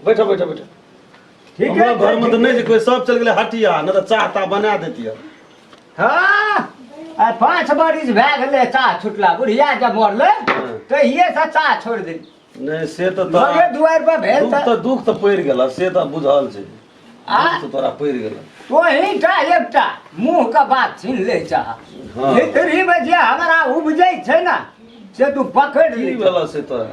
बैठो बैठो बैठो ठीक हमरा है घर में तो नहीं कोई सब चल गए हटिया न तो चाह ता बना देतिया हाँ आ पाँच बरिस भए गेलै चाह छुटला बुढ़िया जब मरलै तहिये से चाह छोड़ देली नहीं से तो तोरा- लगे दुआर पर भेल दुख तऽ तो दुख तो पड़ गेल से तो बुझल छै आ? दुख तो तोरा पड़ गेल तोही टा एकटा मुँह के बात छीन ले चाह हाँ। भीतरी में जे हमरा उपजै छै ने से तू पकड़ की ले भेल से तोरा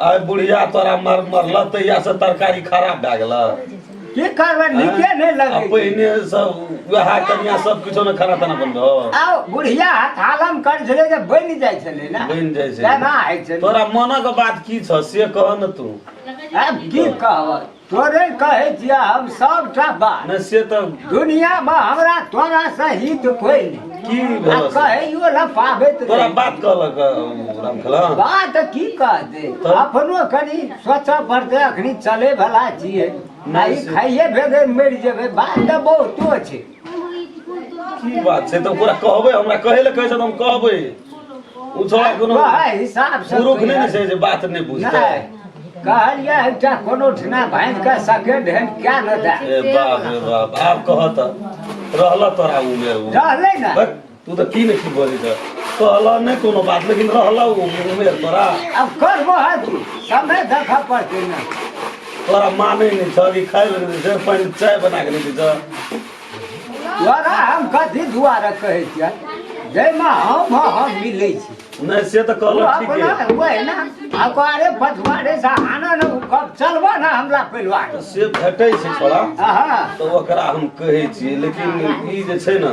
आय बुढ़िया तोरा मर मरला तहिया से तरकारी खराब भए गेल की करबै नीके नहि लगै छै। पहिने सब वएह कनिया सब किछो ने खाना ताना बनबो आउ बुढ़िया हथालम करै छलै जे बनि जाइ छलै ने बनि जाइ छै। तेना होइ छलै तोरा मनक बात की छ से कह न तू आब की कहबै तोरे कहे दिया हम सब टा बात न से तो दुनिया में हमरा तोरा से हित कोई नहीं की आ भला से? कहे यो न पाबे तो तोरा नहीं। बात कहलक अ, रामखेला बात की कह दे तब? अपनो कनी सोचा पड़ते अखनी चले भला छिए नहीं से। खाइए भेदे मरि जेबे बात तऽ बहुतो छै की बात छै तऽ ओकरा कहबै हमरा कहै लए कहै छै तऽ हम कहबै ओ थोड़ा कोनो कहै हिसाब से पुरुख नहि ने छै जे बात नहि बुझतै नहि कहलियै एकटा कोनो ठिना भाँज के सेकेंड हैंड क्या न दे ए बाप रे बाप आब कहऽ तऽ रहलऽ तोरा उमे ओ रहलै ने बस। तू तो की नहीं बोली तो कहला नहीं कोनो बात लेकिन रहला वो उमेर तोरा अब कर वो है तू समय देखा पड़ते ना तोरा माने नहीं था कि खाए लगे से पानी चाय बना के नहीं था तोरा हम कथी दुआरा कहे छियै जाहिमे हम हम मिलै छी नहीं से तो कहला ठीक अपना है हुए ना अखबारे पछुआरे से आना न उ कब चलबा ना हमरा परिवार से भेटै छै थोड़ा हाँ तो ओकरा हम कहै छी लेकिन ई जे छै ने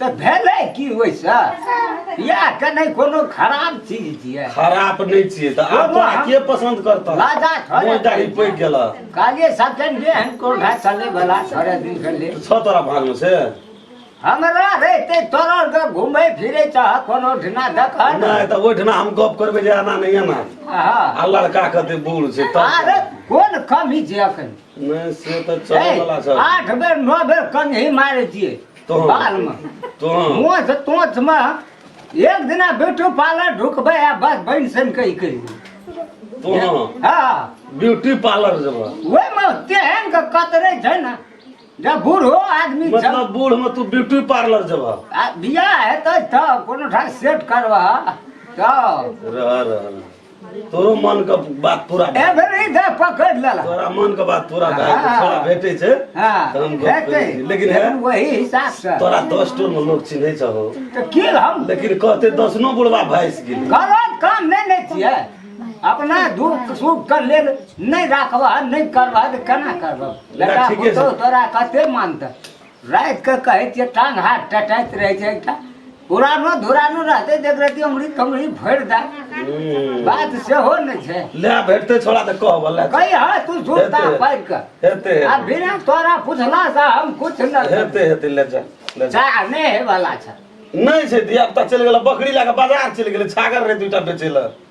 तऽ भेलै की ओइसँ बियाह केनाइ कोनो खराब चीज छियै खराब नहि छियै तऽ आब तोरा के पसन्द करतौ राजा थोड़े मोन दाढ़ी पैक गेल काजे सकेंड डे हम कोन है चले वाला थोड़े दिन के लिए छ तोरा भाग में से हमरा रहते तोरा के घूमे फिरे चाह कोनो ढिना देख नहीं तो वो ढिना हम गप करबे जे आना नहीं आना हां आ लड़का कहते बूढ़ से तो अरे कोन कमी जे अखन नहीं से तो चले वाला छ आठ बेर नौ बेर कहीं मारे दिए बालमे मोछ तोछमे एक दिना ब्यूटी पार्लर ढुकबै आ बस बनि सन कहि कहि हँ ब्यूटी पार्लर जेबै ओहिमे तेहन के कतरे छै ने जब बूढ़ो आदमी मतलब बूढ़ में तू ब्यूटी पार्लर जब बियाह हेतै तऽ कोनो ठाम सेट करबह तऽ रह रह तोरो मन के बात पूरा ए भए भेलै दे पकड़ लेला तोरा मन के बात पूरा भए गेल। तोरा भेटै छै हाँ तऽ हम गप हेतै करै छी। लेकिन है लेकिन वही हिसाब से तोरा दस टोल में लोग चिन्है छहो तऽ की हम लेकिन कहते दसनो बुढ़वा भाइस गेलै गलत काम नहि ने छियै अपना दुख सुख के लेल नहि राखबह नहि करबह तऽ केना करबह बेटा ठीके छै। पुतहु तोरा कते मानतै राति के कहै छियै टांग हाथ टटाइत रहै छै एकटा पुरानो धुरानो रहतै देख रहती अमरी तमरी भरि दा बात सेहो ने छै ले भेटते छोड़ा तऽ कहब ले कही हँ तू सुनता हेतै। पारि के हेतै आ हेतै बिना तोरा पुछला से हम कुछ न करब। हेतै हेतै ले जा ले जा चाह नहि हे वाला छै नहि छै धिया पुता चलि गेल बकरी लए कऽ बाजार चलि गेलै छागर रहै दूटा बेचै लए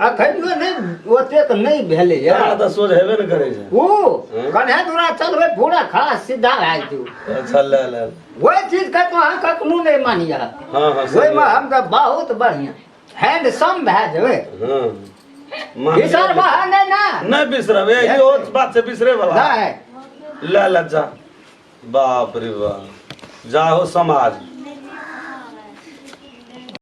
अखनियो नहि ओतेक नहि भेलै या हमरा तऽ सोझ हेबे ने करै छै ओ हँ। कन्हे दूरा चलबै पूरा खास सीधा भए जेतौ अच्छा ले ले ओहि चीजके तो अहाँ कखनो नहि मानिया हँ हँ सही ओहिमे बात। हम तऽ बहुत बढ़िआँ हैंडसम भए जेबै हँ मान- विचार बहा नहि ने नहि बिसरब ए इहो बात से बिसरे वाला नहि ले ले जा बाप रे बाप जाहो समाज